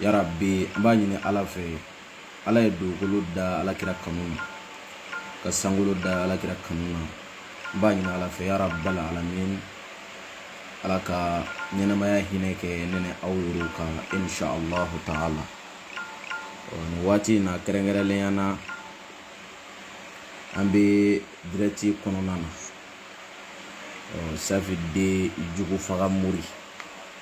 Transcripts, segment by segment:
yarabi an b'a ɲini ala fɛ ala ye dugukolo da ala kira kanu na ka sankolo da ala kira kanu na an b'a ɲini ala fɛ yarabal alamin ala ka ɲɛnamaya hinɛ kɛ ne ni aw yɛrɛw kan insha allahu ta'ala nin waati in na kɛrɛnkɛrɛnnenya na an bɛ dirɛti kɔnɔna na safi de jugu faga mori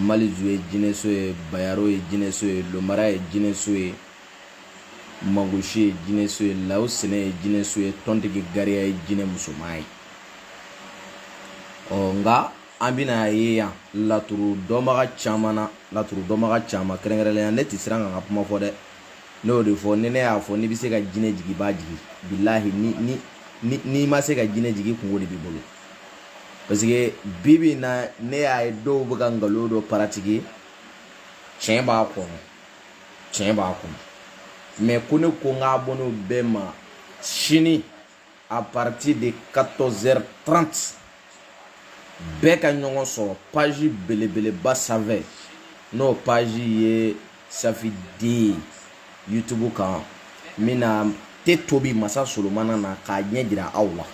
malizu ye jinɛso ye bayaro ye jinɛso ye lomara ye jinɛso ye mangosi ye jinɛso ye law sɛnɛ ye jinɛso ye tɔntigi gariya ye jinɛ musoman ye ɔ nka an bɛna ye yan laturu dɔnbaga caman kɛrɛnkɛrɛnnenya ne tɛ siran ka n ka kuma fɔ dɛ ne y'o de fɔ ni ne y'a fɔ n'i bɛ se ka jinɛ jigin i b'a jigin bilahi ni ni n'i ma se ka jinɛ jigin kunko de b'i bolo parce que bi bi in na ne y'a ye dɔw bɛ ka nkalon dɔ paratike tiɲɛ b'a kɔnɔ tiɲɛ b'a kɔnɔ mais ko ne ko n ka abonnéw bɛɛ ma sini à partir de 14h30 bɛɛ ka ɲɔgɔn sɔrɔ page belebeleba sanfɛ n'o page ye safi de youtube kan n bɛna te tobi masa solomana na k'a ɲɛ jira aw la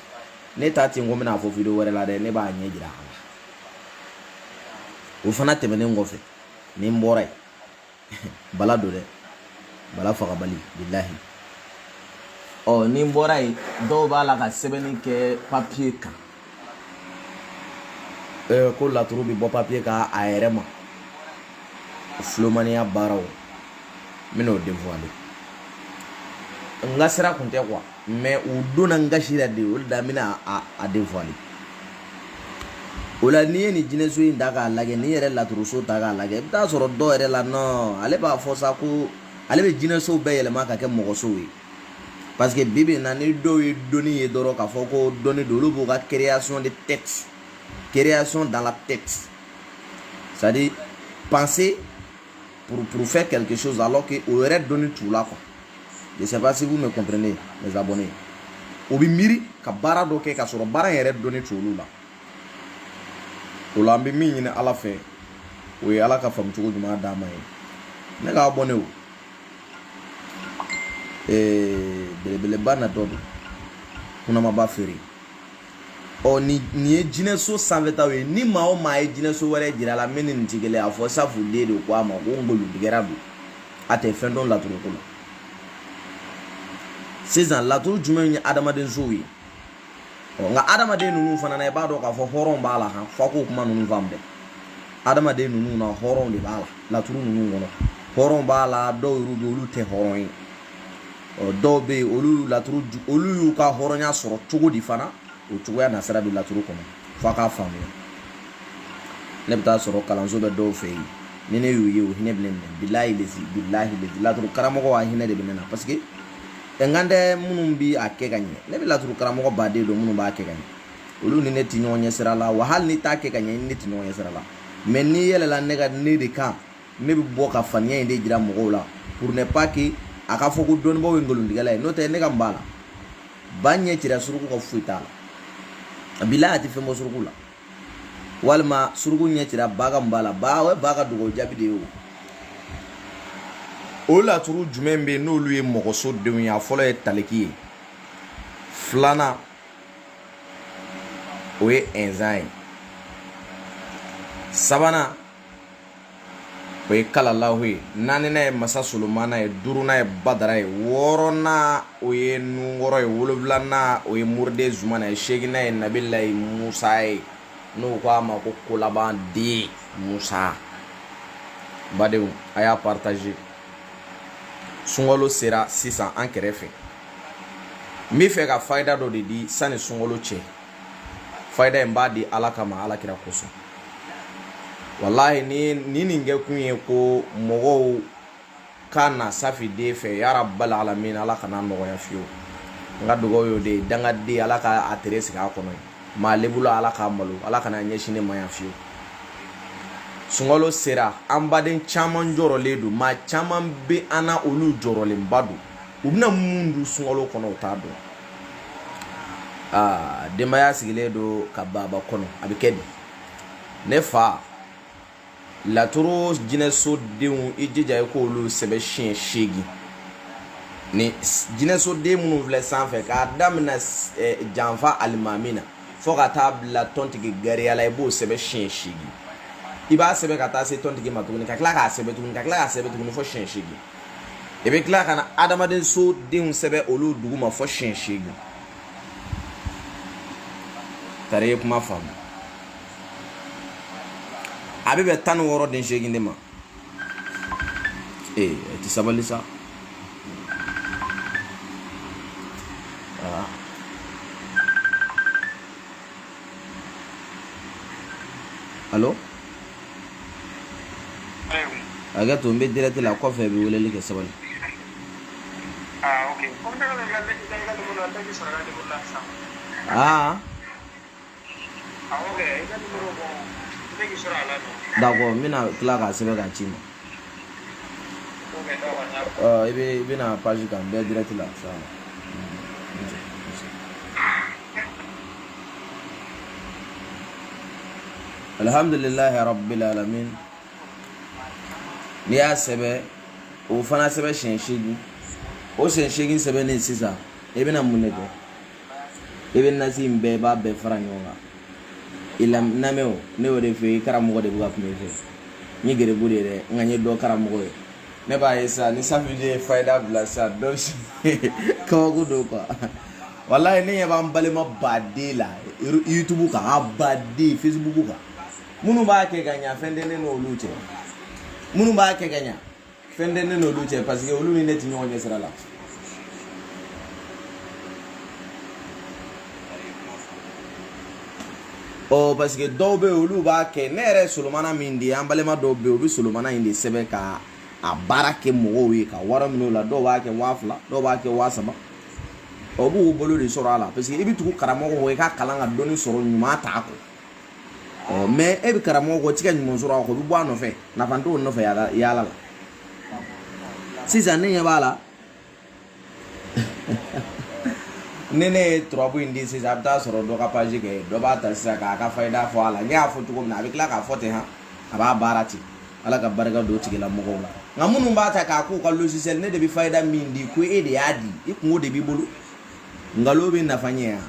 ne t'a ten ko n bɛna a fɔ video wɛrɛ la dɛ ne b'a ɲɛ jira a la o fana tɛmɛnen kɔfɛ ni n bɔra yen bala don dɛ bala fagabali bilahi ɔ ni n bɔra yen dɔw b'a la ka sɛbɛnni kɛ papiye kan Eh, ko laturu bɛ bɔ papiye kan a yɛrɛ ma filomaniya baaraw n bɛna o dévoiler n ka sira kun tɛ quoi mais u donna n gasi la de o de la n bɛna a dévoiler o la n'i ye nin jinɛso in ta k'a lajɛ n'i yɛrɛ laturuso ta k'a lajɛ i bɛ t'a sɔrɔ dɔw yɛrɛ la non ale b'a fɔ sa ko ale bɛ jinɛsow bɛɛ yɛlɛma ka kɛ mɔgɔsow ye parce que bi bi in na ni dɔw ye dɔnni ye dɔrɔn k'a fɔ ko dɔnni don olu b'u ka création de texte création dans la tête c'est à dire penser pour, pour faire quelque chose alors que o yɛrɛ dɔnni t'u la quoi je sais pas si vous me comprenez mes abonnés o bɛ miiri ka baara dɔ kɛ k'a sɔrɔ baara in yɛrɛ dɔnni t'olu la o la an bɛ min ɲini ala fɛ o ye ala ka faamucogo ɲuman d'an ma ye ne ka abonnéw ee belebeleba natɔ don kunamaba feere ɔ ni nin ye jinɛso sanfɛtaw ye ni maa o maa ye jinɛso wɛrɛ jira a la min ni nin tɛ kelen a fɔ safi de de ko a ma ko nkalontigɛla don a tɛ fɛn dɔn laturu ko la sisan laturu jumɛnw ye adamadensow ye nka adamaden ninnu fana na i b'a dɔn k'a fɔ hɔrɔn b'a la han fɔ k'o kuma ninnu faamu dɛ adamaden ninnu na hɔrɔn de b'a la laturu ninnu kɔnɔ hɔrɔn b'a la dɔw yɛrɛ bɛ yen olu tɛ hɔrɔn ye dɔw bɛ yen olu laturu olu y'u ka hɔrɔnya sɔrɔ cogo di fana o cogoya nasira bɛ laturu kɔnɔ f'a k'a faamuya ne bɛ taa sɔrɔ kalanso bɛ dɔw fɛ yen ni ne y'u ye o hinɛ bɛ ne minɛ bilahi lezi bilahi lezi laturu karamɔgɔ a hinɛ de bɛ ne na parce que n kan tɛ minnu bi a kɛ ka ɲɛ ne bɛ laturu karamɔgɔ baden don minnu b'a kɛ ka ɲɛ olu ni ne tɛ ɲɔgɔn ɲɛ sira la wa hali n'i t'a kɛ ka ɲɛ ne tɛ ɲɔgɔn ɲɛ sira la mais n'i yɛlɛla ne ka ne de kan ne bɛ bɔ ka faniya in de jira mɔgɔw la pour ne pas que a ka fɔ ko dɔnnibaaw ye nkolontigɛla ye n'o tɛ ne ka mun b'a la ba ɲɛ cira suruku ka foyi t'a la bilahi a tɛ fɛn bɔ suruku la walima suruku ɲɛ cira ba ka mun b'a la ba o ye ba ka dugawu jaabi de ye o o laturu jumɛn bɛ yen n'olu ye mɔgɔso denw ye a fɔlɔ ye taliki ye filanan o ye ɛnzan ye sabanan o ye kalalahu ye naaninan ye masa solomana ye duurunan ye badara ye wɔɔrɔnan o ye nunkɔrɔ ye wolonwulanan o ye moriden zumana ye seeginan ye nabilayi musa ye n'o ko a ma ko kolaban den musa badenw a y'a partager sunkalo sera sisan an kɛrɛfɛ n bɛ fɛ ka fayida dɔ de di sani sunkalo cɛ fayida in b'a di ala kama ala kira kosɔn walayi ni ni nin kɛ kun ye ko mɔgɔw ka na safi de fɛ ya rabil alamin ala kan'a nɔgɔya fiyewu n ka dugawu y'o de ye dangaden ala ka a tere sigi a kɔnɔ maa lebula ala k'a malo ala kan'a ɲɛsin ne ma yan fiyewu sunkalo sera an baden caman jɔrɔlen don maa caman bɛ an na olu jɔrɔlenba don u bɛna mun dun sunkalo kɔnɔ u t'a dɔn aa denbaya sigilen don ka baba kɔnɔ a bɛ kɛ di ne fa laturu jinɛso denw i jija i k'olu sɛbɛn siɲɛ seegin ni jinɛso den minnu filɛ sanfɛ k'a daminɛ eh, janfa alimami na fo ka taa bila tɔntigi gariya la i b'o sɛbɛn siɲɛ seegin i b'a sɛbɛn ka taa se tɔntigi ma tuguni ka tila k'a sɛbɛn tuguni ka tila k'a sɛbɛn tuguni fo siɲɛ seegin i bɛ tila ka na adamadenso denw sɛbɛn olu duguma fo siɲɛ seegin tari ye kuma faamu a bɛ bɛn tan ni wɔɔrɔ den seegin de ma ee a tɛ sabali sa alo a ka to n bɛ dirɛti la kɔfɛ i bɛ weleli kɛ sabali aa d'accord n bɛna tila k'a sɛbɛn k'a ci i ma i bɛ i bɛna paji kan n bɛ dirɛti la sa alihamdulilayi rabbil alamin n'i y'a sɛbɛn o fana sɛbɛn siɲɛ seegin o siɲɛ seegin sɛbɛnnen sisan i bɛna mun de kɛ i bɛ nasi in bɛɛ i b'a bɛɛ fara ɲɔgɔn kan i lamɛn o ne y'o de fɔ i karamɔgɔ de bɛ ka kuma i fɛ n ye garibu de ye dɛ nka n ye dɔ karamɔgɔ ye ne b'a ye sa ni sanfɛji ye fayida bila sa dɔ ka gundo ko walayi ne ɲɛ b'an balima baden la yutubu kan a baden fesibuku kan minnu b'a kɛ ka ɲa fɛn tɛ ne n'olu cɛ minnu b'a kɛ ka ɲa fɛn tɛ ne n'olu cɛ paseke olu ni ne tɛ ɲɔgɔn ye sira la ɔ paseke dɔw bɛ yen olu b'a kɛ ne yɛrɛ solomana min de ye an balima dɔw bɛ yen u bɛ solomana in de sɛbɛn ka a baara kɛ mɔgɔw ye ka wari minɛ o la dɔw b'a kɛ waa fila dɔw b'a kɛ waa saba ɔ b'u bolo de sɔrɔ a la paseke i bɛ tugu karamɔgɔ kɔ i ka kalan ka dɔnni sɔrɔ ɲuman t'a kɔ ɔ mɛ e bɛ karamɔgɔ kɔ i tɛ ka ɲuman sɔrɔ a kɔ i bɛ bɔ a nɔfɛ nafa t'o nɔfɛ yaala la sisan ne ɲɛ b'a la ni ne ye turabu in di sisan a bɛ taa sɔrɔ dɔ ka paji kan dɔ b'a ta sisan k'a ka fayida fɔ a la ne y'a fɔ cogo min na a bɛ tila k'a fɔ ten han a b'a baara ten ala ka barika don o tigilamɔgɔw la nka minnu b'a ta k'a k'u ka logiciel ne de bɛ fayida min di ko e de y'a di i kungo de b'i bolo nkalon bɛ nafa ɲɛ yan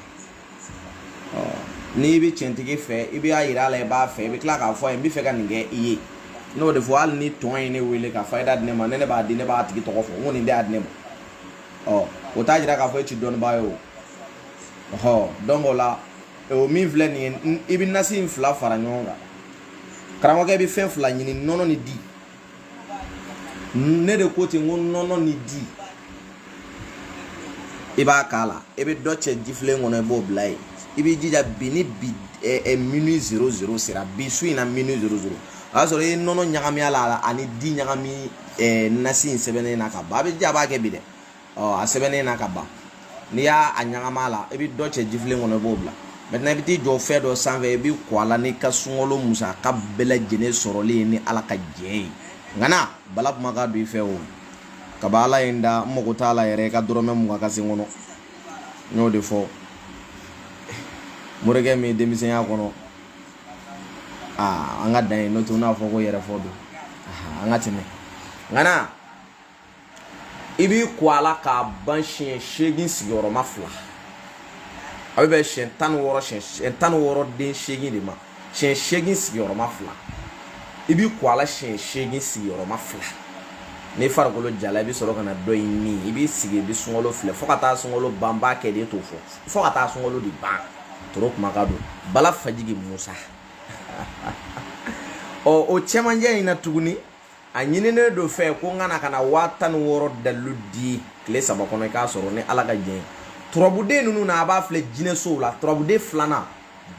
n'i bɛ cɛntigi fɛ i b'a yira a la i b'a fɛ i bɛ tila k'a fɔ a ye n bɛ fɛ ka nin kɛ i ye n'o de fɔ hali ni dɔ ye ne wele ka fayida di ne ma ne ne b'a di ne b'a tigi tɔgɔ fɔ n ko nin de y'a di ne ma ɔ o t'a jira k'a fɔ e ti dɔnnibaa ye o ɔhɔ dɔnki o la o min filɛ nin ye i bɛ nasi in fila fara ɲɔgɔn kan karamɔgɔkɛ bɛ fɛn fila ɲini nɔnɔ ni di ne de ko ten n ko nɔnɔ ni di i b'a k'a la i bɛ dɔ cɛ jifilen kɔnɔ i b'o bila yen i b'i jija bi ni bi ɛɛ eh, eh, minuit zero zero sera bi su in na minuit zero zero o y'a sɔrɔ i ye nɔnɔ ɲagami a la ani di ɲagami ɛɛ eh, nasi in sɛbɛnnen na ka ban a bɛ jija a b'a kɛ bi dɛ. ɔ a sɛbɛnnen na ka ban n'i y'a a ɲagami a la i bɛ dɔ cɛ jifilen kɔnɔ i b'o bila maintenant i bɛ t'i jɔ fɛn dɔ sanfɛ i b'i ko a la n'i ka sunkalo musaka bɛɛ lajɛlen sɔrɔlen ye ni ala ka jɛn ye nka na bala kuma ka don i fɛ o kaba ala ye n da n mago t'a la yɛrɛ i ka dɔrɔmɛ mugan ka se n kɔnɔ n y'o de fɔ morikɛ min ye denmisɛnya kɔnɔ aa an ka dan yen n'o t'u n'a fɔ ko yɛrɛfɔ don an ka tɛmɛ nka na i b'i ko a la k'a ban siɲɛ seegin sigiyɔrɔma fila a bɛ bɛn siɲɛ tan ni wɔɔrɔ siɲɛ tan ni wɔɔrɔ den seegin de ma siɲɛ seegin sigiyɔrɔma fila i b'i ko a la siɲɛ seegin sigiyɔrɔma fila n'i farikolo jala i bɛ sɔrɔ ka na dɔ in min i b'i sigi i bɛ sunkalo filɛ fo ka taa sunkalo ban b'a kɛ de t'o fɔ fo ka taa sunkalo de ban toro kuma ka don bala fajigi musa ɔ o cɛmancɛ in na tuguni a ɲininen don n fɛ ko n ka na ka na waa tan ni wɔɔrɔ dalilu di tile saba kɔnɔ i k'a sɔrɔ ni ala ka jɛn ye turabuden ninnu na a b'a filɛ jinɛsow la turabuden filanan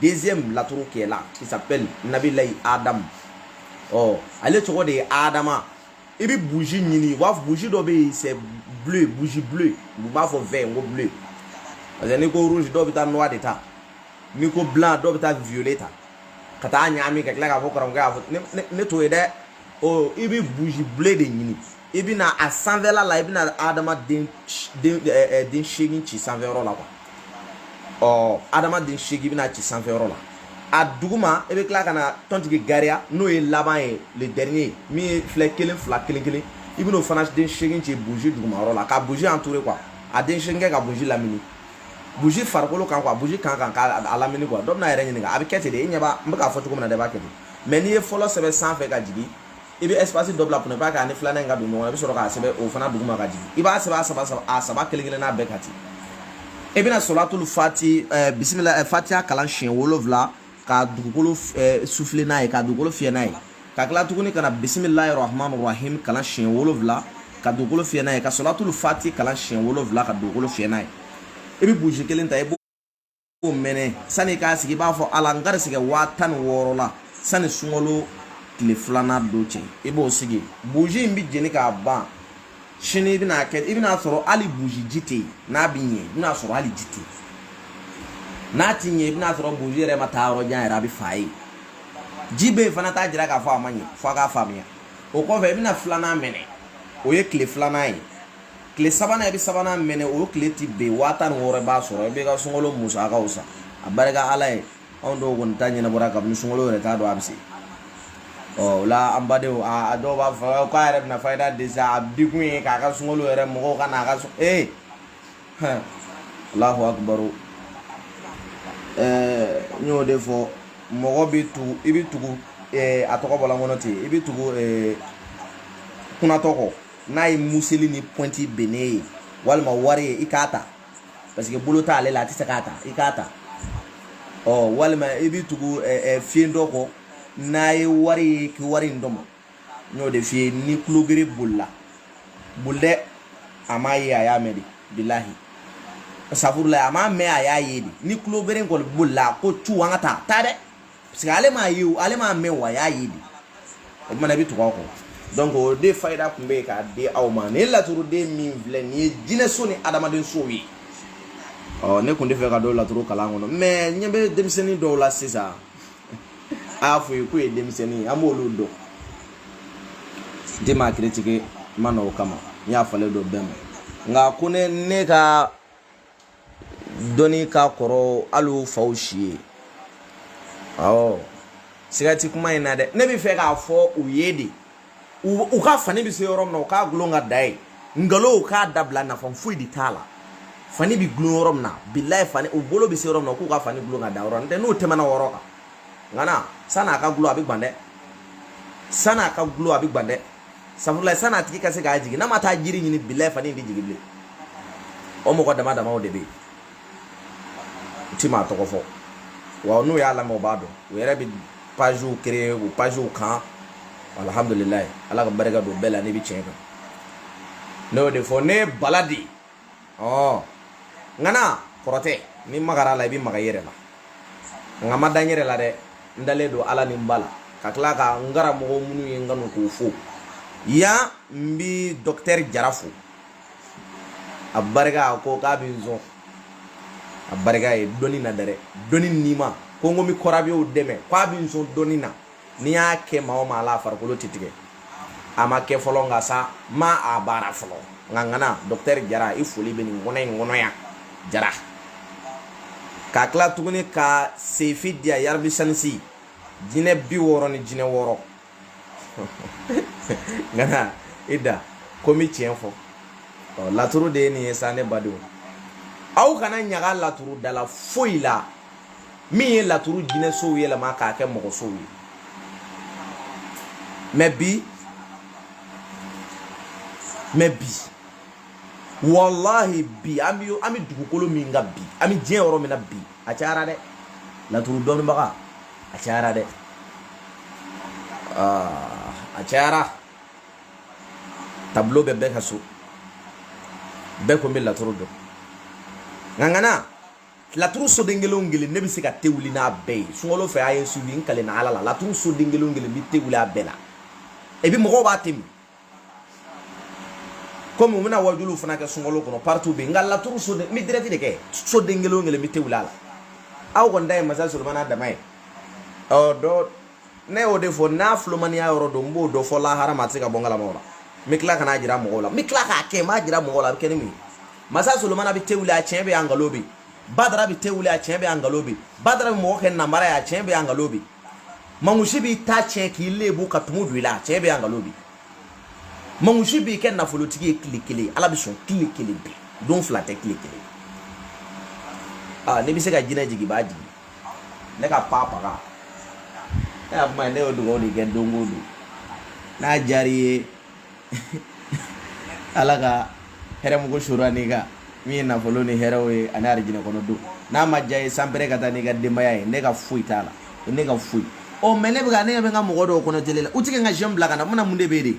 deuxième laturu qui est là qui s'appelle nabilayi adamu ɔ ale tɔgɔ de ye adama i bɛ buji ɲini u b'a fɔ buji dɔ bɛ yen c'est bleu buji bleu u b'a fɔ vert n ko bleu parce que n'i ko rouge dɔw bɛ taa noir de ta n'i ko blanc dɔw bɛ taa violet ta ka t'a ɲagami ka tila k'a fɔ karamɔgɔkɛ y'a fɔ ne t'o ye dɛ o i bɛ buji bleu de ɲini i bɛ na a sanfɛla la i bɛ na adama den den den seegin ci sanfɛyɔrɔ la quoi ɔ adama den seegin i bɛ na ci sanfɛyɔrɔ la a duguma i bɛ tila ka na tɔntigi gariya n'o ye laban ye le dernier min ye filɛ kelen fila kelen kelen i bɛn'o fana den seegin ci buji dugumayɔrɔ la ka buji entourer quoi a den seegin kɛ ka buji lamini buji farikolo kan quoi buji kan ka k'a lamini quoi dɔ bɛna yɛrɛ ɲininka a bɛ kɛ ten de e ɲɛ b'a n bɛ k'a fɔ cogo min na dɛ i b'a kɛ ten mais n'i ye fɔlɔ sɛbɛn sanfɛ ka jigin i bɛ espace dɔ bila pour ne pas que a ni filanan in ka don ɲɔgɔn i bɛ sɔrɔ k'a sɛbɛn o fana duguma ka jigin i b'a sɛbɛn a saba a saba kelen kelen n'a bɛɛ ka ten i bɛna sɔlatulu fati bisimila fatiya kalan siɲɛ wolonwula ka dugukolo souffler n'a ye ka dugukolo fiyɛ n'a ye ka tila tuguni ka na bisimilahi rahamani rahimi kalan siɲɛ wolonwula ka dugukolo fiyɛ n'a ye ka sɔlatulu fati kalan siɲɛ wolonwula ka dugukolo fiyɛ n'a ye i bɛ buji kelen ta i b'o mɛnɛ sani i k'a sigi i b'a fɔ ala n garisigɛ waa tan ni wɔɔrɔ la sani sunkalo tile filanan don cɛ i b'o sigi buji in bɛ jeni k'a ban sini i bɛna kɛ i bɛna sɔrɔ hali buji ji tɛ yen n'a bɛ ɲɛ i bɛna sɔrɔ hali ji tɛ yen n'a ti ɲɛ i bɛna sɔrɔ buji yɛrɛ ma taa yɔrɔ jan yɛrɛ a bɛ faga yen ji bɛ yen fana t'a jira k'a fɔ a ma ɲɛ f'aw k'a faamuya o kɔfɛ i bɛna filanan mɛnɛ o ye tile filanan ye tile sabanan i bɛ sabanan mɛnɛ o tile ti bin waa tan ni wɔɔrɔ i b'a sɔrɔ i b'i ka sunkalo musakaw san abarika ala ye anw dɔw kɔni ta ɲɛnabɔra kabini sunkalo yɛrɛ t'a dɔn a bɛ se ɔ o la an badenw a dɔw b'a fɔ k'a yɛrɛ bɛna fayida di sa a di kun ye k'a ka sunkalo yɛrɛ mɔgɔw ka n'a ka so ee hɛn alahu akibaru ɛɛ n y'o de fɔ mɔgɔ bɛ tugu i bɛ tugu ɛɛ a tɔgɔ bɔla n kɔnɔ ten i bɛ tugu ɛɛ kunatɔ kɔ n'a ye museli ni pɔnti bennen ye walima wari ye i k'a ta parce que bolo t'ale la a tɛ se k'a ta i k'a ta ɔ walima i bɛ tugu fiyentɔ kɔ n'a ye wari ye k'i wari in tɔmɔ n y'o de f'i ye ni kulogere bolila boli dɛ a m'a ye a y'a mɛn de bilahi safurulayi a m'a mɛn a y'a ye de ni kulogere in kɔni bolila ko cu an ka taa taa dɛ parce que ale m'a ye o ale m'a mɛn o a y'a ye de o tuma na i bɛ tugu a kɔ donc o de fayida tun bɛ yen k'a di aw ma nin ye laturuden min filɛ nin ye jinɛso ni adamaden sow ye ɔ ne tun tɛ fɛ ka don laturu kalan kɔnɔ mais n ɲɛ bɛ denmisɛnnin dɔw la sisan a y'a fɔ u ye k'o ye denmisɛnnin ye an b'olu dɔn n tɛ maa kiritike n ma na o kama n yafalen don bɛɛ ma nka ko ne ne ka dɔnni ka kɔrɔ hali o faw si ye awɔ siga tɛ kuma in na dɛ ne bɛ fɛ k'a fɔ u ye de u ka fani bɛ se yɔrɔ min na u k'a gulon ka dan yen nkalon u k'a dabila nafa foyi de t'a la fani bɛ gulon yɔrɔ min na bilayi fani u bolo bɛ se yɔrɔ min na k'u ka fani gulon ka dan yɔrɔ n'o tɛ n'u tɛmɛna yɔrɔ kan ŋana san'a ka gulon a bɛ gwan dɛ san'a ka gulon a bɛ gwan dɛ sabula sani a tigi ka se k'a jigin n'a ma taa jiri ɲini bilayi fani in tɛ jigin bilen o mɔgɔ dama damaw de bɛ yen n ti maa tɔgɔ fɔ wa n'u y'a lamɛn u b'a dɔn u yɛrɛ bɛ pagew créer u pagew kan alihamudulilayi ala ka barika don bɛɛ la n'i bɛ tiɲɛ kan ne y'o de fɔ ne ye bala de ye ɔ ŋana kɔrɔtɛ n'i magara a la i bɛ maga i yɛrɛ la nka n ma da n yɛrɛ la dɛ n dalen don ala ni n ba la ka tila ka n karamɔgɔ minnu ye n kanu k'u fo yan n bi dɔkitɛri jara fo a barika a ko k'a bɛ n sɔn a barika ye dɔnni na dɛ dɔnni n'i ma ko n ko n bɛ kɔrɔbiyew dɛmɛ k'a bɛ n sɔn dɔnni na n'i y'a kɛ maa o maa la a farikolo tɛ tigɛ a ma kɛ fɔlɔ nka sa n m'a baara fɔlɔ nka ŋana dɔkitɛri jara i foli bɛ nin kɔnɔ in kɔnɔ yan jara ka tila tuguni ka sefi di a yarabi sanisi jinɛ biwɔɔrɔ ni jinɛ wɔɔrɔ ŋana i da ko n bɛ tiɲɛ fɔ laturu de ye nin ye sa ne badenw aw kana ɲaga laturu dala foyi la min ye laturu jinɛsow yɛlɛma k'a kɛ mɔgɔsow ye mɛ bi mɛ bi walahi bi an bɛ an bɛ dugukolo min kan bi an bɛ diɲɛ yɔrɔ min na bi a cayara dɛ laturu dɔnnibaga a cayara dɛ ah, a cayara tableau bɛ bɛɛ ka so bɛɛ ko n bɛ laturu dɔn ŋaŋana laturu soden kelen kelen ne bɛ se ka te wuli n'a bɛɛ ye sunkalo fɛ a ye su n kale na ala la laturu soden kelen kelen bɛ te wuli a bɛɛ la et puis mɔgɔw b'a temi komi u bɛna wajuliw fana kɛ sunkalo kɔnɔ partout bɛ yen nka laturu soden n bɛ direct de kɛ soden kelen kelen bɛ te wuli a la aw kɔni ta ye masa solomana dama ye ɔ dɔ ne y'o de fɔ n'a filomaniya yɔrɔ don n b'o dɔ fɔ lahara ma a tɛ se ka bɔ n kalama o la n bɛ tila ka n'a jira mɔgɔw la n bɛ tila k'a kɛ n b'a jira mɔgɔw la a bɛ kɛ ni mun ye masa solomana bɛ te wuli a tiɲɛ bɛ yan nkalon bɛ badara bɛ te wuli a tiɲɛ bɛ yan nkalon bɛ badara bɛ mɔgɔ kɛ namara ye a tiɲɛ bɛ yan nkalon bɛ mangusi b'i ta tiɲɛ k'i lebu ka tumu don i la a tiɲɛ bɛ yan nkalon bɛ mangusi b'i kɛ nafolotigi ye tile kelen ala b'i sɔn tile kelen bɛɛ don fila tɛ tile kelen aa ne bɛ se ka jinɛ jigin i b'a jigin ne ka pa paga ne y'a kuma ye ne y'o dugawu de kɛ don o don n'a diyara i ye ala ka hɛrɛ mugu sura n'i kan min ye nafolo ni hɛrɛw ye ani arijinɛ kɔnɔ don n'a ma diya i ye sanpere ka taa n'i ka denbaya ye ne ka foyi t'a la ne ka foyi ɔ mɛ ne bɛ ka ne bɛ ka mɔgɔ dɔw kɔnɔ tele la u tɛ ka j'aime bila ka na mun na mun de bɛ yen de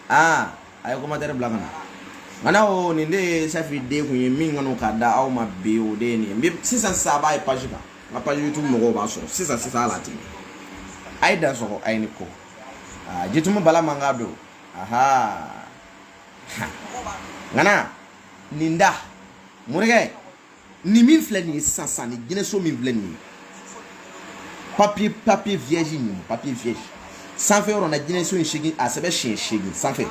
aa a ye commentaire bila ka na nka n'a o nin de ye safi den kun ye min kɔnɔ ka da aw ma bi o de ye nin ye sisan sisan a b'a ye page kan n ka page youtube mɔgɔw b'a sɔrɔ sisan sisan ala tigi a ye dansɔgɔ a ye ni ko aa ah, jitumu bala man ka don aha ŋana nin da morikɛ nin min filɛ nin ye sisan sisan nin jinɛso min filɛ nin ye papier papier vierge nin papier vierge sanfɛ yɔrɔ na jinɛso in segin a sɛbɛn siɲɛ segin sanfɛ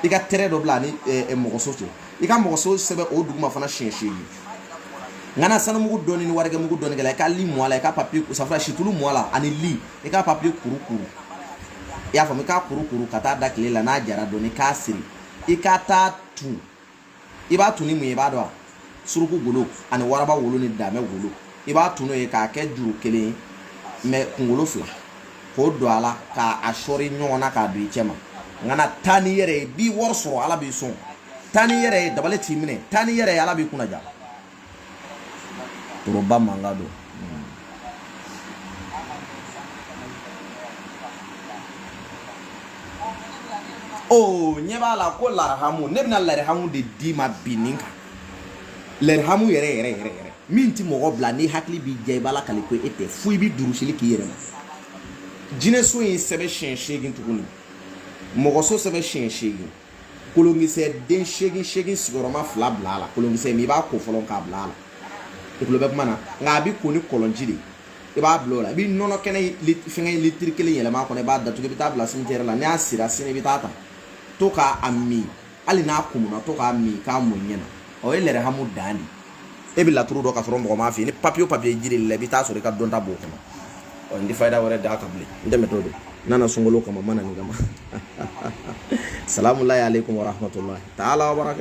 i ka trait dɔ bila a ni mɔgɔso cɛ i ka mɔgɔso sɛbɛn o duguma fana siɲɛ segin ŋana sanumugu dɔɔni ni warijɛmugu dɔɔni k'a la i ka li mu a la i ka papier safura situlu mu a la ani li i ka papiye kuru kuru i y'a faamu i k'a kuru kuru ka taa da tile la n'a jara dɔɔni k'a siri i ka taa tun i b'a tun ni mun ye i b'a dɔn wa suruku golo ani waraba wolo ni damɛ golo i b'a tun n'o ye k'a kɛ juru kelen ye mɛ kunkolo fila k'o don a la k'a sɔri ɲɔgɔn na k'a don i cɛ ma ŋana taa n'i yɛrɛ ye i bɛ wari sɔrɔ ala b'i sɔn taa n'i yɛrɛ ye dabali t'i minɛ taa n'i yɛrɛ ye ala b'i kunnadiya toroba manga don o oh, ɲɛ b'a la ko larihamu ne bɛna larihamu de d'i ma bi nin kan larihamu yɛrɛ yɛrɛ yɛrɛ yɛrɛ min tɛ mɔgɔ bila n'i hakili b'i diya i b'a lakali ko e tɛ fo i bɛ durusili k'i yɛrɛ ma jinɛso in sɛbɛn siɲɛ seegin tuguni mɔgɔso sɛbɛn siɲɛ seegin kolonkisɛ den seegin seegin sigiyɔrɔma fila bila a la kolonkisɛ min i b'a ko fɔlɔ k'a bila a la i tulo bɛ kuma na nka a bɛ ko ni kɔlɔnji de i b'a bila o la i bɛ nɔnɔ kɛnɛ fɛngɛ litiri kelen yɛlɛma a kɔnɔ i b'a datugu i bɛ taa bila simitɛri la ni a sira sini i bɛ taa a ta to k'a min hali n'a kumuna to k'a min k'a mun ɲɛ na o ye lɛrɛhamu dan de ye e bɛ laturu dɔn ka sɔrɔ mɔgɔ m'a f'i ye ni papiye o papiye jira i la i bɛ taa sɔrɔ i ka dɔnta b'o kɔnɔ ɔ n tɛ fayida wɛrɛ d'a kan bilen n tɛmɛtɔ don n nana sunkalo kama n ma na nin kama salamu alaykum wa rahmatulahi taala wa barakatu